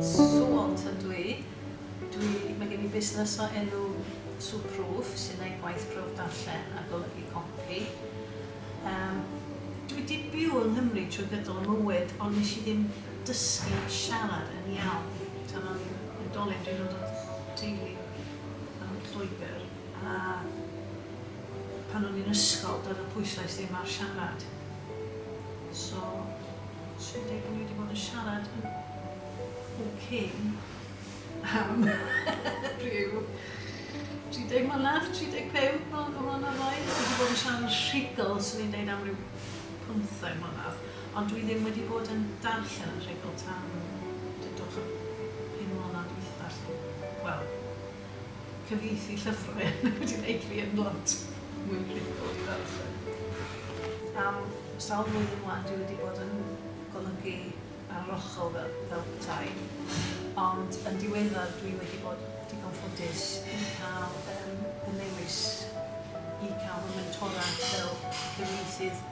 Suont ydw i. Dwi... mae gen i busnes o enw Suproof sy'n neud gwaith proove darllen a golygu copi. Yym dwi wedi byw yng Nghymru trwy gydol fy mywyd ond nes i ddim dysgu siarad yn iawn tan o'n i'n oedolyn, dwi'n dod o teulu yym Lloegr. A pan o'n i'n ysgol doedd y pwyslais ddim ar siarad. So, swn i'n deud bod ni wedi bod yn siarad yn bob cyn am rhyw 30 mlynedd, 35 mlynedd o mlynedd oed. Dwi wedi bod yn siarad yn rhugl, swn i'n deud am rhyw 15 mlynedd. Ond dwi ddim wedi bod yn darllen yn rhugl tan dydwch y pum mlynedd dwytha, lly. Wel, Cyfieithu llyfrau yn wedi gwneud fi yn lot mwy rhugl i ddarllen. Am sawl blwyddyn 'wan dwi wedi bod yn golygu arlochol fel, fel petai, ond yn diweddar dwi wedi bod digon ffodus i cael um, y newis i cael fy mentora fel cyfieithydd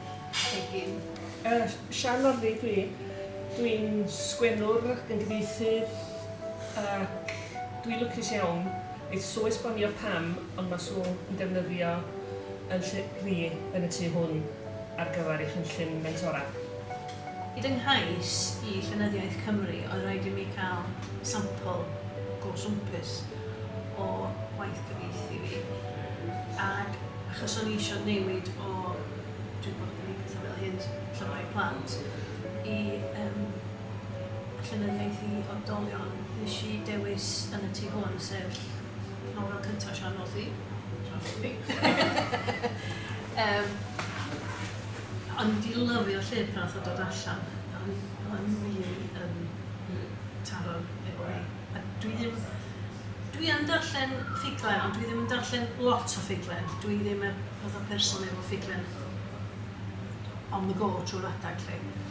egin. Uh, Sian Norfi dwi. Dwi'n sgwennwr ac yn gyfieithydd ac Dwi lwcus iawn, neith Sue esbonio pam ond ma Sue yn defnyddio yn lle dwi yn y tu hwn ar gyfer ei chynllun mentora. I fy nghais i Llenyddiaeth Cymru oedd rhaid i mi cael sampl go swmpus o waith cyfieithu fi ac achos o'n i isio newid o, dwi 'di bod yn gneud petha fel hyn llyfrau plant, i yym. llenyddiaeth i oedolion, nes i dewis Yn y Tŷ Hwn, sef nofel cyntaf Siân Morphy, Siân Morphy. um, o'n i wedi lyfio llyfr pan oedd dod allan, o'n i really yn taro efo hi. A dwi ddim, dwi yn darllen ffuglen, ond dwi ddim yn darllen lot o ffuglen. Dwi ddim y fath o person efo ffuglen on the go trwy'r adeg lle.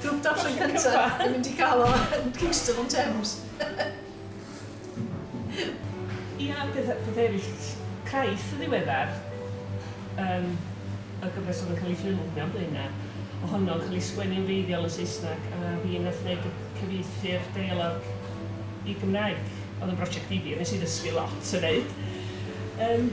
Grwp darllen cyntaf yn mynd i gael o yn Kingston on Thames. Ia, pethau, pethau eraill craith yn ddiweddar yn y gyfres oedd yn cael ei ffilmio mewn blaenau, ohono'n cael ei sgwennu'n wreiddiol yn Saesneg a fi wnaeth wneud y cyfieithu'r deialog i Gymraeg. Oedd yn brosiect difyr, nes i ddysgu lot yn wneud. Yym.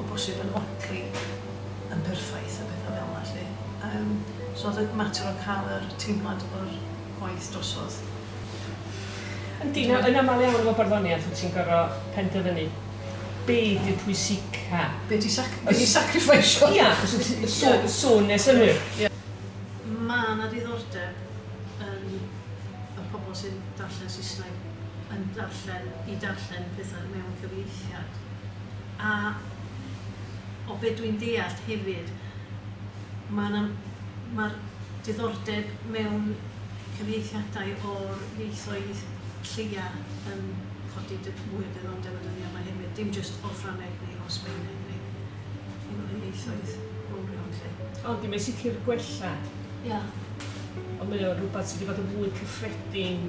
o bosib yn odli yn berffaith a petha fel 'na 'lly. Yym so o'dd y mater o ca'l yr teimlad o'r gwaith drosodd. Yndi, na, yn amal iawn efo barddoniaeth wt ti'n gor'o' penderfynu be' 'di'r pwysica. Be' ti sac- be' ti'n sacrifeisio. Ia, achos y s- y sw- y swn ne' synnwyr. Ia. Ma' 'na ddiddordeb yn y pobol sy'n darllen Saesneg yn darllen i darllen petha mewn cyfieithiad. A o be dwi'n deallt hefyd, ma' 'na... ma'r diddordeb mewn cyfieithiadau o'r ieithoedd lleia yn codi dy- mwy o ddiddordeb y dyddia' 'ma hefyd, dim jyst o Ffrangeg neu o Sbaeneg neu un o'r ieithoedd mowrion 'lly. Yndi, mae'n sicr gwella. Ia. Ond mae o'n rwbath sy' 'di bod yn fwy cyffredin.